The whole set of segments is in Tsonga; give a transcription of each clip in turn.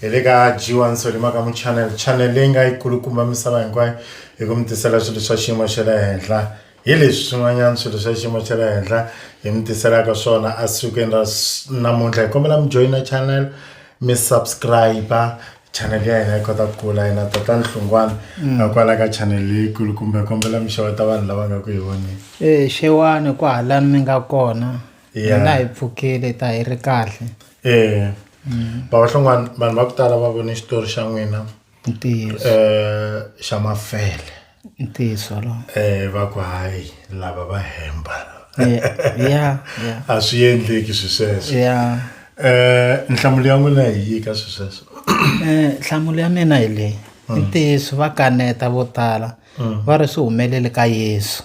hi le ka g1 solima ka muchannel channel leyi nga yi kulukumba misava hinkwayo hi ku mi tisela swilo swa xiyimo xa le henhla hi leswi swin'wanyana swilo swa xiyimo xa le henhla hi mi tiselaka swona a sikwini ra namuntlha hi kombela mi joyina channel mi subscribe chanele ya hina yi kota ku kula yena tata nhlungwana mm. a kwala ka chanele leyikulu kumbe kombela mixewa ta vanhu lava nga ku hi voneni e xewani ku hala mi nga kona hina hi pfukile ta hi ri kahle e mm. bava hlungwana vanhu va ku tala va vone xitori xa n'wina um xa mafele ntiyiso wolowo eh va ku hayi lava va hemba Eh, yeah, yeah. a swi endleki swi sweswo Yeah. eh nhlamulo ya n'wina hi yi ka swi sweswo Eh, nhlamulo ya mina hi leyi i ntiyiso va kaneta vo tala va ri swi humelele ka yesu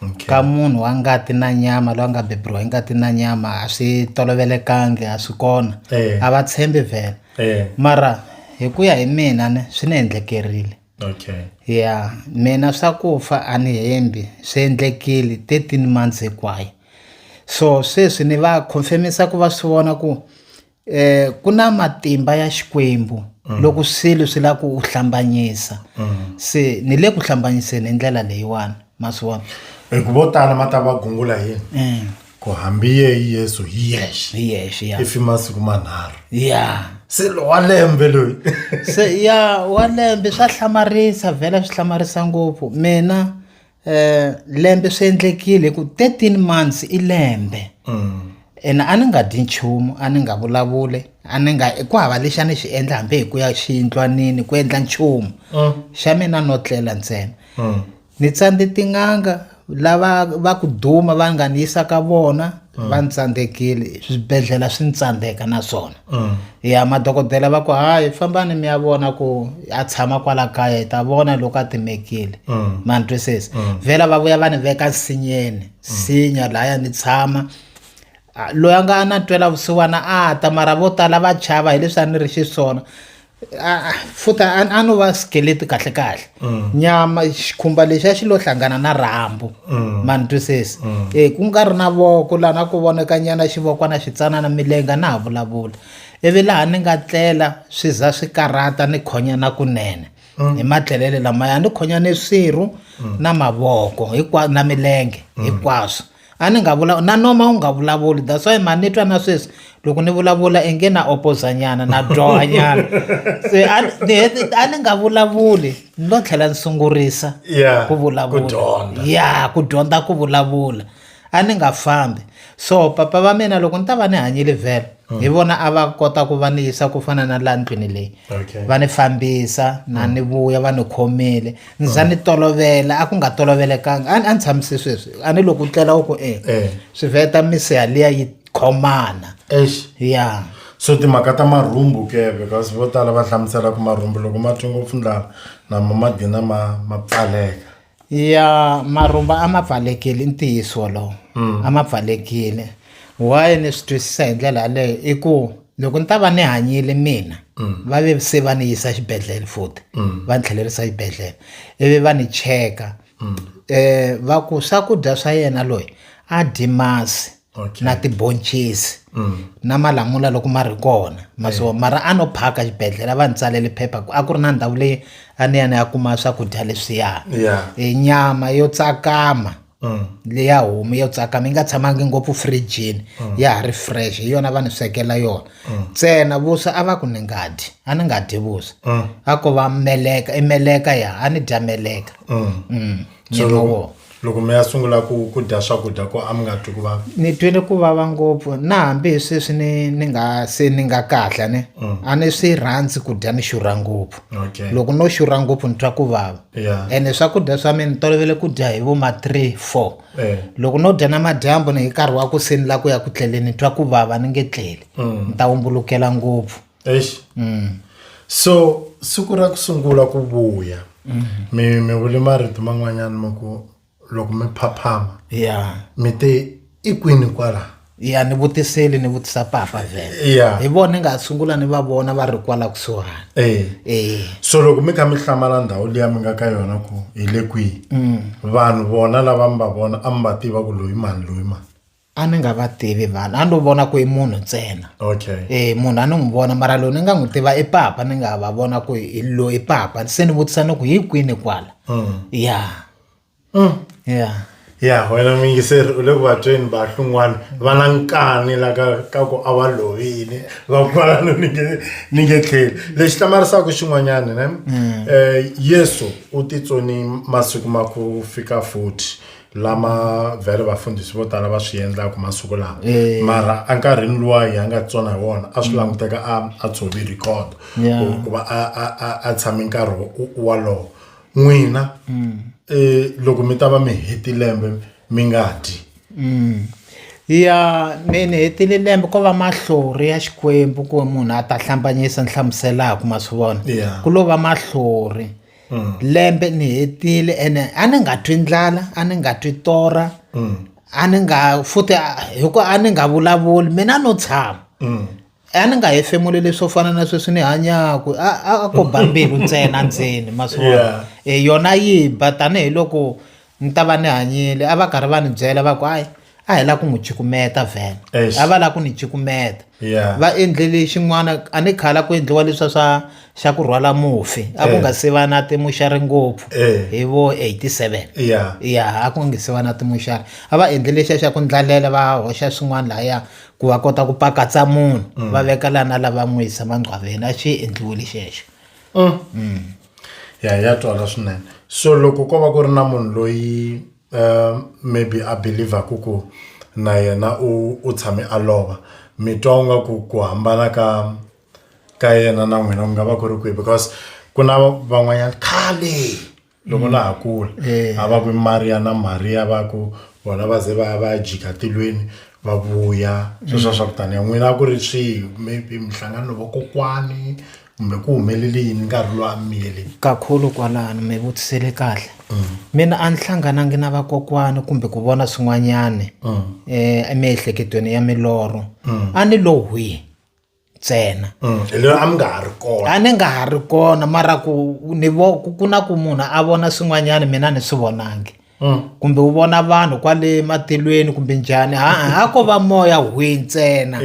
Okay. ka munhu wa ngati na nyama loyi a nga beburiwa hi ngati na nyama a swi tolovelekangi a swi kona Eh. a va tshembi vhela eh mara hi ku ya hi mina ne swi ni endlekerile okay ya mina swa ku fa a ni hembi swi endlekile 13 months hinkwayo so sweswi ni va confirmisa ku va swi vona ku eh ku na matimba ya xikwembu mm. loko swilo swi la ku u hlambanyisa mm. se ni le ku hlambanyiseni hi ndlela leyiwani ma swi vona hi ku vo tala ma ta va gungula yini mm. ku hambiye hi yesu hi yexe hi yexe ya if masiku manharhu ya se lo wa lembe loyi se ya wa lembe swa hlamarisa vhela swi hlamarisa ngopfu mina eh lembe swi endlekile ku 13 months i lembe ene a ni nga dyi nchumu a ni nga vulavuli a ni nga ku hava lexi a ni xi endla hambi hi ku ya xiyindlwanini ku endla nchumu xa mina no tlela ntsena ni tsandze tin'anga lava va ku duma va nga ni yisa ka vona va ni tsandzekile swibedhlele swi ni tsandzeka na swona mm. ya madokodela va ku hayi fambani mi ya vona ku a tshama kwala kaya hi ta vona loko a timekile mm. ma ni twisisa mm. vhela va vuya va ni veka nsinyeni nsinya laya ni tshama loyi a nga na twela vusiwana a ta mara vo tala va chava hileswi a ni ri xiswona futa a no va skeleti kahle kahle mm. nyama xikhumba lexi a xi lo hlangana na rhambu mm. mani twisisi mm. e ku nga ri na voko laha na ku voneka nyana xivokwana xitsanana milenga na ha vulavula ivi laha ni nga tlela swi za swi karhata ni khonya na kunene hi matlelele lamaya ni khonya ni swirhu na mavoko na milenge hinkwaswo mm. a ni nga vula na noma u nga vulavuli that's why mani ni twa na sweswi loko ni vulavula inge na opozanyana na dyohanyana se a ni nga vulavuli ni lo tlhela ni sungurisa ku vulavula ya ku dyondza ku vulavula a ni nga fambi so papa va mina loko ni ta va ni hanyile vhele hmm. hi vona a va kota ku va ni yisa ku fana na laha ndlwini leyi va ni fambisa na hmm. ni vuya va ni khomile ni za ni tolovela a ku nga tolovelekanga a ni tshamise sweswi a ni loko u tlela u ku e swi veta misiha liya yi khomana ya so timhaka ta marhumbu ke because vo tala va hlamusela ku marhumbu loko ma twi ngopfu ndlala nama ma gina ma ma pfaleka ya marhumba a ma pfalekile i ntiyiso wolowo a ma pfalekile why ni swi twisisa hi ndlela yaleyo i ku loko ni ta va ni hanyile mina va ve se va ni yisa xibedhlele futhi va ni tlhelerisa xibedhlele ivi va ni cheka um va ku swakudya swa yena loyi a dyi masi na tibhoncisi na malamula loko ma ri kona ma so mara a no phaka xibedhlele a va ni tsalele phepha ku a ku ri na ndhawu leyi a ni ya ni ya kuma swakudya leswiya e nyama yo tsakama leya homu yo tsakama yi nga tshamangi ngopfu fridgini ya ha ri fresh hi yona va ni swekela yona ntsena vuswa a va ku ni nga dyi a ni nga dyi vuswa a ko va meleka i meleka ya a ni dya meleka nyama wona loko mi ya sungula ku ku dya swakudya ko a mi nga twi ku vava ni twile ku vava ngopfu na hambi hi sweswi ni ni nga se ni nga kahle ni mm. a ni swi rhandzi ku dya ni xurha ngopfu okay. loko no xurha ngopfu ni twa ku vava yeah. ene swakudya swa mina ni tolovele ku dya hi vo ma three four eh. loko no dya na madyambu ni hi nkarhi wa ku se ni la ku ya ku tleleni ni twa ku vava ni nge tleli mm. ni ta wumbulukela ngopfu Eish. So siku ra ku sungula ku vuya mi mi vule marito man'wanyana ma ku loko mi phaphama ya mi te i kwini kwala. ya ni vutiseli ni vutisa papa vhele Ya. hi vona ni nga sungula ni va vona va ri kwala kusuhani Eh. Eh. So loko mi kha mi hlamala ndhawu liya mi nga ka yona ku hi le kwihi vanhu vona lava mi va vona a mi va tiva ku loyi mani loyi mani. a ni nga va tivi vanhu a ni vona ku i munhu ntsena okay e munhu a ni n'wi vona mara loyi ni nga n'wi tiva i papa ni nga va vona ku i loyi papa se ni vutisa ni ku hi kwini kwala mm. ya mm. ya ya wena muyingiseri u le ku vabyeni vahlungwana va na nkani la ka ka ku a va lovile va kwala no ni nge ni nge tlheli lexi hlamarisaka xin'wanyana ne um yesu u titsoni masiku ma ku fika futhi lama vhele vafundhisi vo tala va swi endlaka masiku lawa eh. mara enkarhini luwa hi nga tsona hi wona a swi mm. languteka a a tshovi record ku va a a a tshame nkarhi walowo n'wina mm. eh, loko mi ta va mi heti lembe mi nga dyi mm. ya ni ni hetile lembe ko va mahlori ya xikwembu ku munhu a ta hlambanyisa ni hlamuselaka ma swi vona ku lo va mahlori yeah. lembe ni hetile ene a ni nga twi ndlala a ni nga twi torha a ni nga futhi hikuva a ni nga vulavuli mina no tshama a ni nga hefemula leswo fana na sweswi ni hanyaka a a ko ba mbilu ntsena ndzeni ma swi vona yona yi ba tanihiloko ni ta va ni hanyile a va karhi va ni byela va ku hayi a hi lava ku n'wi cukumeta vhele Eish. a va lava ku ni cukumeta Yeah. va endlele xin'wana a ni khala ku endliwa leswa swa xa ku rhwala mufi a ku Eh. nga se va na timuxari ngopfu Eh. hi vo 87 Yeah. ya a ku nga se va na timuxari a va endlele xa xa ku ndlalela va hoxa swin'wana lahaya ku va kota ku pakatsa munhu va veka lana lava n'wi yisa mangqwaveni a xi endliwile xexo ya ya twala swinene so loko ko va ku ri na munhu loyi um maybe a believaku ku na yena u u tshame a lova mi twa u nga ku ku hambana ka ka yena na n'wina ku nga va ku ri kwihi because ku na van'wanyana khale. loko la ha kula Eh. a va ku i maria na maria va ku vona va ze va va ya jika tilweni va vuya sweswiya swa ku taniya n'wina a ku ri swihi maybe mihlangano vakokwani kumbe ku humelele yini nkarhi lowu a mi miyele kakhulu kwalano mi vutisele kahle mina a ni hlanganangi na vakokwani kumbe ku vona swin'wanyani um emiehleketweni ya milorho a ni lo hwi ntsena mm, a mi nga ha ri kona a ni nga ha ri kona mara ku ni vo ku na ku munhu a vona swin'wanyana mina ni swi vonangi mm. kumbe u vona vanhu kwale matilweni kumbe njhani ha ko va moya hwi ntsena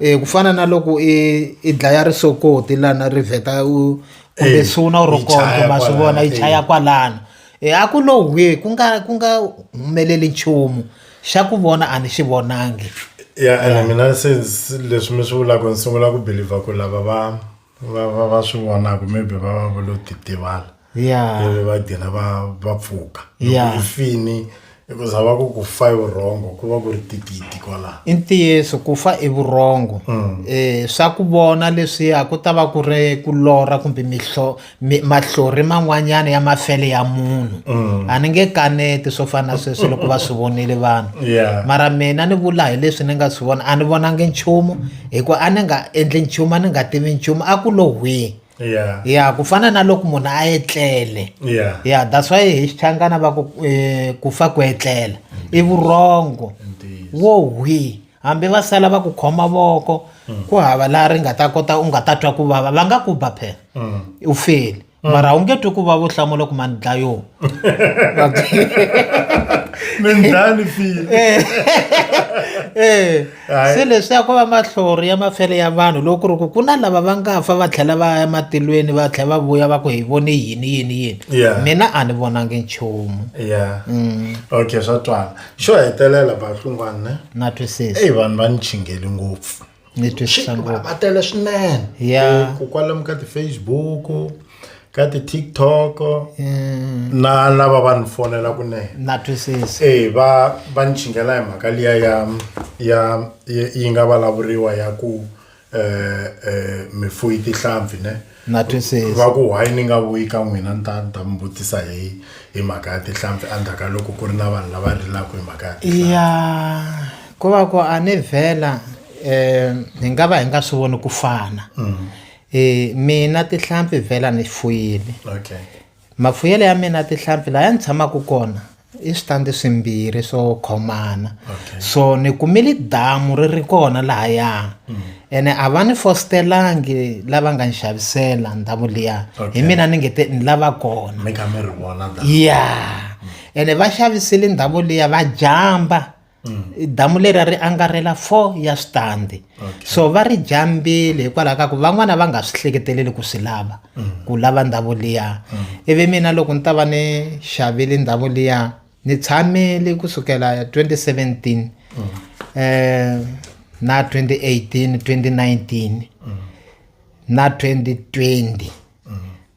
e ku fana na loko i i dlaya risokoti lana ri vheta u kumbe suna u ri kona ma swi vona yi chaya kwalano E a ku lo hwi ku nga ku nga humeleli nchumu xa ku vona a ni xi vonangi ya ene mina se se- leswi mi swi vulaka ni sungula ku believer ku lava va va va va swi vonaka maybe va va va lo titivala ya ivi va gina va va pfuka Ya. loko i fini I ku zava ku ku fa i vurhongo ku va ku ri tigidi kwala i ntiyiso ku fa i vurhongo um swa ku vona leswiya ku ta va ku ri ku lorha kumbe mihlo mahlori man'wanyana ya mafele ya munhu mm. a ni nge kaneti swo fana na sweswi loko va swi vonile vanhu yeah. mara mina ni vula hi leswi ni nga swi vona a ni vonangi nchumu hikuva a ni nga endli nchumu a ni nga tivi nchumu a ku lo hwihi yeah ya ku fana na loko munhu a etlele yeah ya that's why hi xichangana va ku eh, ku fa ku etlela i vurhongo Indeed. wo hwi hambi va sala va ku khoma voko ku hava laha ri nga ta kota u nga ta twa ku vava va nga ku ba phela Mm. u feli mara u nge twi ku vava u hlamula ku mani dlayo mindlani file eh se leswi ya ku va mahlori ya mafele ya vanhu loko ku ri ku ku na lava va nga fa va tlhela va ya matilweni va tlhela va vuya va ku hi vone yini yini yini Yeah. mina a ni vonangi nchumu ya Mm. okay swa twala xo hetelela bahlungwana ne na twisisa eyi vanhu va ni chingeli ngopfu ni twisisa Shit, va ngopfu va tele swinene Yeah. Eh, ku kwalomu ka ti-facebook ka ti-tiktok na lava va ni fonela kunene na twisisa e va va ni chingela hi mhaka liya ya ya yi yi nga vulavuriwa ya ku eh eh mifuyi tihlampfi ne na va twisisa ku why ni nga vuyi ka n'wina ni ta ni ta mi vutisa hi hi mhaka ya tihlampfi endzhaku ka loko ku ri na vanhu lava rilaka hi mhaka ya tihlampfi ya ku va ku a ni vhela um hi nga va hi nga swi voni ku fana E, mina tihlampfi vhela ni fuyile okay. mafuyelo ya mina tihlampfi laha ni tshamaka kona i switandi swimbirhi swo khomana okay. so ni kumile damu ri ri kona lahaya mm. ene a va ni fostelangi lava nga ni xavisela ndhawu liya okay. hi mina ni nge te ni lava kona ya yeah. mm. ene va xavisile ndhawu liya va jamba damu leri a ri angarhela four ya switandi okay. so va ri jambile hikwalaho ka ku van'wana va nga swi hleketeleli ku swi lava mm. ku lava ndhawu liya mm. ivi mina loko ni ta va ni xavile ndhawu liya ni tshamile kusukela 2017 mm. eh na 2018 2019 mm. na 2020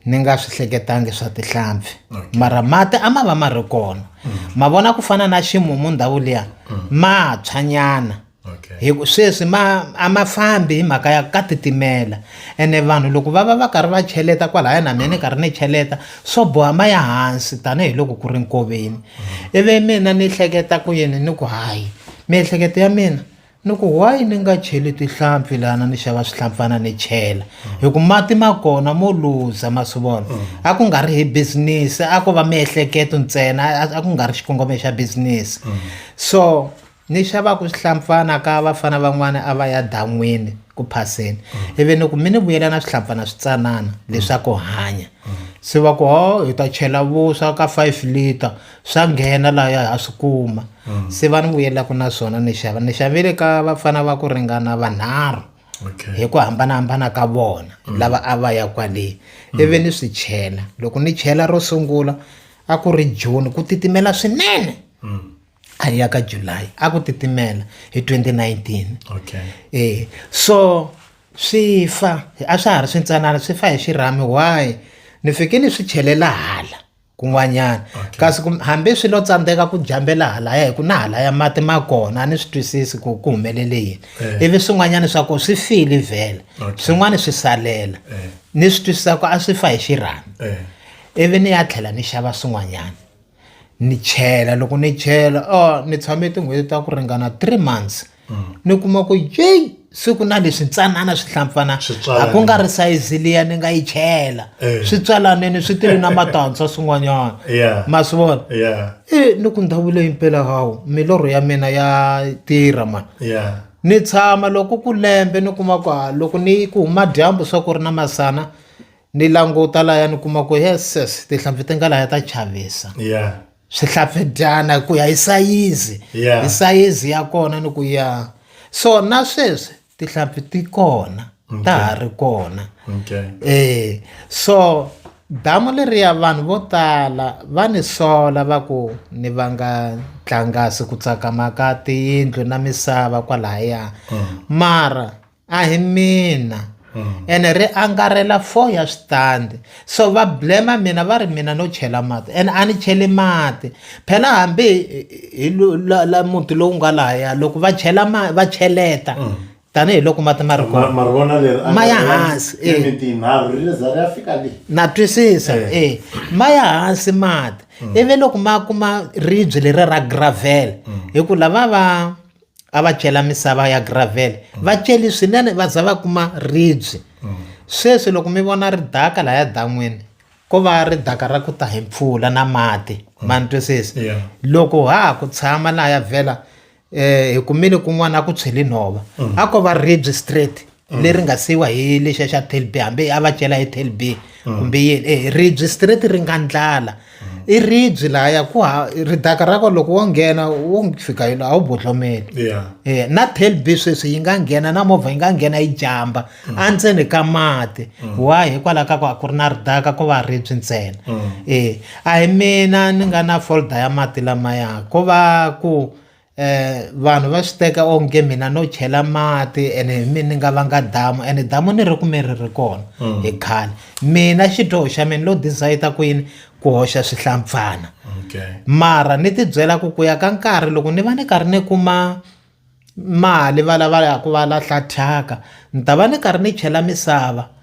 ni nga swi hleketangi swa tihlampfi mara mati a ma va ma ri kona ma vona ku fana na ximumu ndhawu liya ma tshwanyana hi sweswi ma a ma fambi hi mhaka ya ka titimela ene vanhu loko va va va karhi va cheleta kwalaya na mina ni karhi ni cheleta swo boha ma ya hansi tanihiloko ku ri nkoveni ivi mina ni hleketa ku yini ni ku hayi miehleketo ya mina ni ku why ni nga cheli tihlampfi lana ni xava swihlampfana ni chela hi ku mati ma kona mo luza ma swi vona a ku nga ri hi business a ko va miehleketo ntsena a ku nga ri xikongomelo xa business so ni xavaku swihlampfana ka vafana van'wana a va ya dan'wini ku phaseni ivi ni ku mi ni vuyela na swihlampfana switsanana leswaku hanya se va ku ho hi ta chela vuswa ka five liter swa nghena laha ya ha swi kuma mm. se va ni vuyelaka na swona ni xava ni xavile ka vafana va ku ringana vanharhu hi ku hambanahambana ka vona mm. lava a va ya kwale mm. ivi ni swi chela loko ni chela ro sungula a ku ri june ku titimela swinene a ya ka july a ku titimela hi 2019 okay. e so swi fa a swa ha ri swintsanana swi fa hi xirhami why ni fike ni swi chelela hala kun'wanyana okay. kasi hambi swi lo tsandzeka ku jambela halaya hi ku na halaya mati ma kona a ni swi twisisi ku ku humelele yini eh. ivi swin'wanyana swa ku swi file vhele okay. swin'wana swi salela eh. ni swi twisisa ku a swi fa hi xirhami eh. ivi ni ya tlhela ni xava swin'wanyana ni chela loko ni chela o oh, ni tshame tin'hweti ta ku ringana three months ni kuma ku yeyi siku na leswi ntsanana swi hlampfana a ku nga ri sayizi liya ni nga yi chela eh. swi tswalaneni swi tele na matantshwa swin'wanyana ma swi vona e ni ku ndhawu leyi mpela hawu milorho ya mina ya tirha mani ni tshama loko ku lembe ni kuma ku ha loko ni ku huma dyambu swa ku ri na masana ni languta laya ni kuma ku yeses tihlampfi ti nga laya ta chavisa swihlapfedyana ku ya hi sayizi hi sayizi ya kona ni ku ya so na sweswi tihlampfi ti kona ta ha ri kona eh so damu leriya vanhu vo tala va ni sola va ku ni va nga tlangasi ku tsakama ka tiyindlu na misava kwalahaya mm. mara a hi mina hmm. ene ri angarhela four ya switandi so va blema mina va ri mina no chela mati ene a ni cheli mati phela hambi hi la muti lowu nga lahaya loko va chela ma va cheleta hmm. tanihiloko mati ma ri ma ya hansi eh. na twisisa e eh. eh. ma ya hansi mati hmm. ivi loko ma kuma ribye leri ra gravel hi ku lava va a va cela misava ya gravel mm. va celi swinene va za va kuma ribye mm. sweswi loko mi vona ri daka lahaya dan'wini ko va ri daka ra ku ta hi mpfula na mati mm. ma ni twisisi yeah. loko ha ha ku tshama lahaya vhela um eh, hi kumile kun'wana a ku tshweli nhova mm. a ko va ribye straight mm. leri nga siyiwa hi lexiya xa telb hambi a va cela hi telb mm. kumbe yini e ribyi straight ri nga ndlala mm. i ribyi lahaya ku ha ridaka ra ko loko wo nghena wo fika yilo a wu botlomeli e na telb sweswi yi nga nghena na movha yi nga nghena yi jamba endzeni ka mati wa hikwalaho ka ku a ku ri na ridaka ko va ribyi ntsena e a hi mina ni nga na folder ya mati lamaya ko va ku vanhu va swi teka onge mina no chela mati ene hi mina ni nga vanga damu ene damu ni ri kume ri ri kona mm. hi khale mina xidyoho xa mina lo desayita ku yini ku hoxa swihlampfana mara ni tibyela ku ku ya ka nkarhi loko ni va ni karhi ni kuma mali va lava ya ku va lahla thyaka ni ta va ni karhi ni chela misava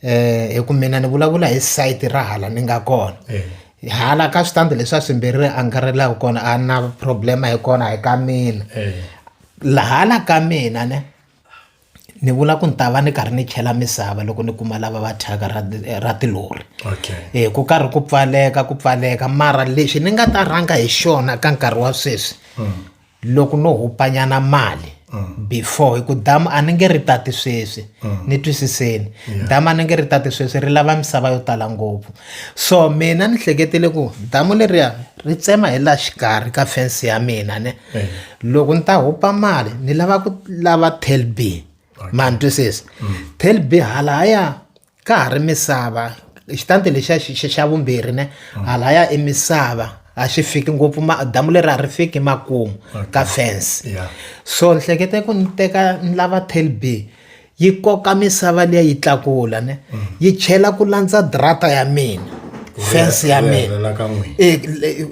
eh hi ku mina ni vulavula hi site ra hala ni nga kona eh. hala ka switandi leswi a swimbirhi ri angarhelaka kona a na problema hi kona hi ka mina eh. lahala ka mina ne ni vula ku ni ta va ni karhi ni chela misava loko ni kuma lava va thyaka ra ra tilori okay. e ku karhi ku pfaleka ku pfaleka mara lexi ni nga ta rhanga hi xona ka nkarhi wa sweswi mm. loko no hupanyana mali mm. before hi ku damu a ni nge ri tati sweswi mm. ni twisiseni yeah. damu a ni nge ri tati sweswi ri lava misava yo tala ngopfu so mina ni hleketile ku damu leriya ri tsema hi la xikarhi ka fense ya mina ne yeah. loko ni ta hupa mali ni lava ku lava telb okay. ma ni twisisa mm. telb hala haya ka ha ri misava xitandi lexiya xa vumbirhi ne mm. halaya i misava a xi fiki ngopfu damu leri a ri fiki makumu ka fence so ni hlekete ku ni teka ni lava telb yi koka misava liya yi tlakula ne mm. yi chela ku landza drata ya mina fence ya mina e,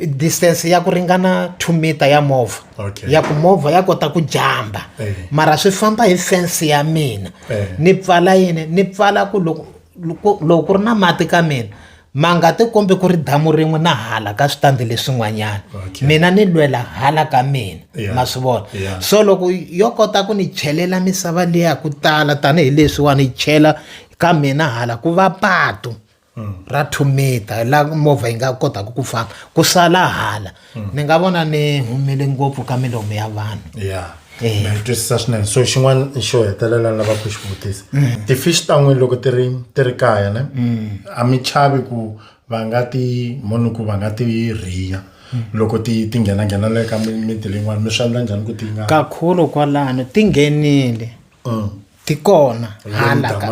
distance ya ku ringana two meter ya movha ya ku movha ya kota ku jamba mara swi famba hi fence ya mina ni pfala yini ni pfala ku loko loko loko ku ri na mati ka mina ma nga ti kombi ku ri damu rin'we na hala ka switandi leswin'wanyana mina ni lwela hala ka mina ma swi vona so loko yo kota ku ni chelela misava liya ku tala tanihileswi wa ni chela ka mina hala ku va patu ra two meter la movha yi nga kotaka ku famba ku sala hala mm. ni nga vona ni humele ngopfu ka milomu ya vanhu ya eh. ni twisisa swinene so xin'wana xo hetelela ni lavaka ku xi vutisa mm. ti-fish ta n'wini loko ti ri ti ri kaya ne mm. a mi chavi ku va nga ti moni ku va nga ti rhiya loko ti ti nghenanghenela eka miti leyin'wana mi swi endla njhani ku ti nga kakhulu kwalano ti nghenile ti kona hala ka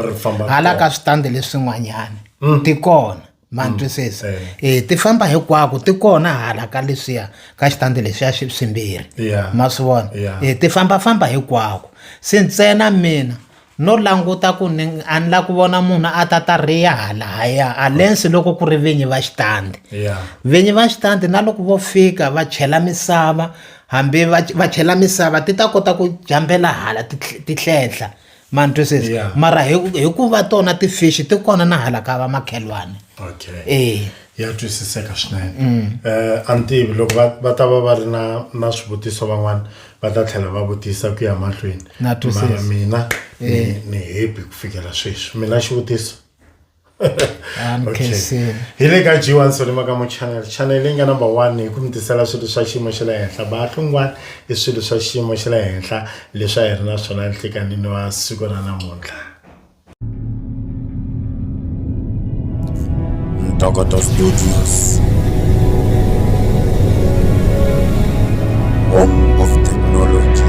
hala ka switandi leswin'wanyana mm. ti kona ma mm. twisisa e ti famba hinkwako ti kona hala ka leswiya ka xitandi lexiya xi swimbirhi ma swi vona e ti fambafamba hinkwako se ntsena mina no languta ku ni a ni la ku vona munhu a ta ta riya halaya alensi loko ku ri vinyi va xitandi vinyi va xitandi na loko vo fika va chela misava hambi va va chela misava ti ta kota ku jambela hala ti ti hlenhla ma ni twisisi Yeah. mara hi ku- hikuva tona ti-fish ti kona na hala ka va makhelwani okay Eh. ya twisiseka swinene eh a ni tivi loko va va ta va va ri na na swivutiso van'wana va ta tlhela va vutisa ku ya mahlweni Na twisisa. Mara mina ni ni happy ku fikela sweswi mina xivutiso I'm Okay. Kaysen. hi le ka g1 solimakamu channel channel leyi nga number one hi ku mi tisela swilo swa xiyimo xa le henhla bahlungwani i swilo swa xiyimo xa le henhla leswi a hi ri na swona nhlikanini wa siku ra namuntlha Ntokoto Studios. Home of Technology.